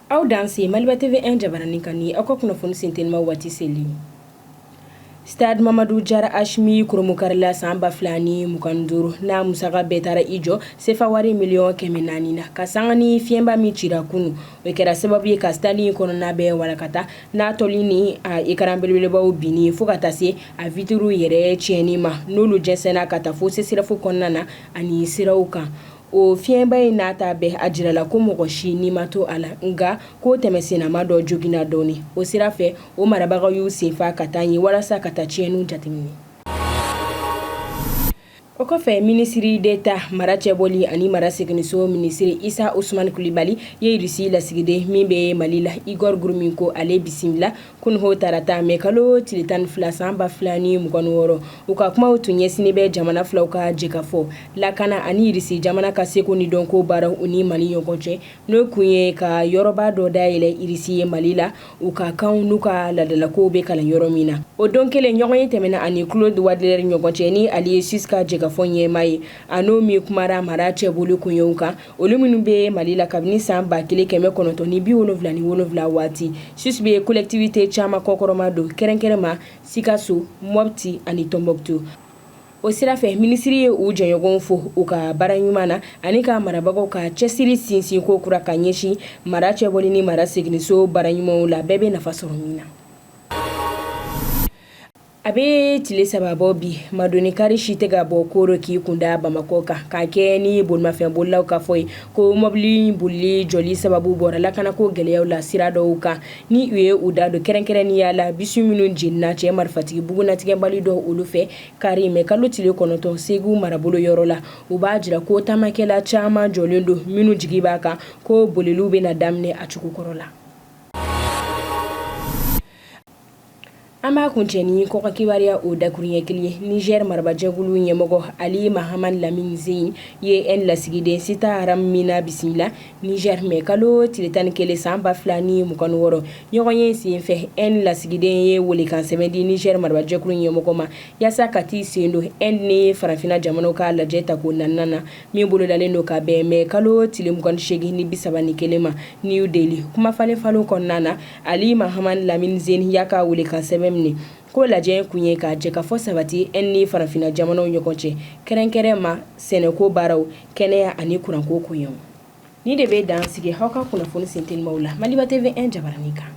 aw danse maliba TV un jabaranin kan aw ka kunnafoni sentinima waati selen stade Mamadu Jara H min kurunbonkarila san ba fila ni mugan duuru na a musaka bɛɛ taara i jɔ sefa wari miliyɔn kɛmɛ naani na nka sanga ni fiɲɛba min cira kunun o kɛra sababu ye ka stade kɔnɔna bɛɛ walankata n'a tɔli ni a écran belebelebaw binni ye fo ka taa se a vitres yɛrɛ tiɲɛni ma n'olu jɛnsɛnna ka taa fo CSREF kɔnɔna na ani siraw kan o fiɲɛba in n'a ta bɛɛ a jirala ko mɔgɔ si ni ma to a la nka ko tɛmɛsennama dɔ joginna dɔɔni o sira fɛ o marabagaw y'u senfa ka taa yen walasa ka taa tiɲɛniw jateminɛ O kɔfɛ minisiri d'État mara cɛboli ani mara seginso minisiri Isa Usmani Kulibali ye Irisi lasigiden min bɛ mali la Igor Gromyko ale bisimila kunun tarata mɛ kalo tile tan ni fila san ba fila ni mugan wɔɔrɔ u ka kumaw tun ɲɛsinnen bɛ jamana filaw ka jɛkafɔ lakana ani Irisi jamana ka seko ni dɔnko baaraw u ni mali ɲɔgɔn cɛ n'o kun ye ka yɔrɔba dɔ dayɛlɛ irisi ye mali la u ka kanw n'u ka laadalakow bɛ kalan yɔrɔ min na o don kelen ɲɔgɔnye tɛmɛna a ni Claude Wandeler ɲɔgɔn cɛ ni ale ye Suisse ka jɛkafɔ ɲɛmaa ye a n'o min kumara mara cɛboli koɲɛw kan olu minnu bɛ mali la kabini san ba kelen kɛmɛ kɔnɔntɔn ni bi wolonwula ni wolonwula waati Suisse bɛ kolɛkitivite caman kɔkɔrɔmadon kɛrɛnkɛrɛnma sikaso mɔti ani Tombouctou O sira fɛ minisiri ye u jɛɲɔgɔnw fo u ka baara ɲuman na ani ka marabagaw ka cɛsiri sinsin ko kura ka ɲɛsin mara cɛboli ni mara seginso baara ɲumanw la bɛɛ bɛ nafa sɔrɔ min na a bɛ tile saba bɔ bi maadoni kaari si tɛ ka bɔ koro k'i kunda bamakɔ kan ka kɛ ni bolimafɛn bolilaw ka fɔ ye ko mɔbili bolili jɔli sababu bɔra lakanako gɛlɛyaw la sira dɔw kan ni u ye u da don kɛrɛnkɛrɛnnenya la bisi minnu jenina cɛ marifatigi bugunatigɛbali dɔ olu fɛ Kari mɛ kalo tile kɔnɔntɔn segu marabolo yɔrɔ la u b'a jira ko taamakɛla caman jɔlen don minnu jigi b'a kan ko boliliw bɛna daminɛ a cogo kɔrɔ la an b'a kuncɛ ni kɔkan kibaruya o dakuru ɲɛ kelen ye Nizɛri marabajɛkulu ɲɛmɔgɔ Ali Mahaman Lamini Zɛni ye Inde lasigiden Sita Ram Meena bisimila Nizɛri mɛ kalo tile tan ni kelen san ba fila ni mugan wɔɔrɔ ɲɔgɔnye senfɛ Inde lasigiden ye weelekan sɛbɛn di nizɛri marabajɛkulu ɲɛmɔgɔ ma walasa ka t'i sen don Inde ni farafinna jamanaw ka lajɛ tako naaninan na min bolodalen don ka bɛn mɛ kalo tile mugan ni segin ni bisaba ni kelen ma New Delhi kuma falenfalen kɔnɔna na ali Mahaman Lamini Zɛni y'a ka weelekan sɛbɛn minɛ ko lajɛ kun ye ka jɛkafɔ sabati Inde ni farafinna jamanaw ɲɔgɔn cɛ kɛrɛnkɛrɛnma sɛnɛko baaraw kɛnɛya ani kuranko koɲɛ ni de bɛ dan sigi aw ka kunnafoni sentelimaw la maliba tv 1 jabaranin kan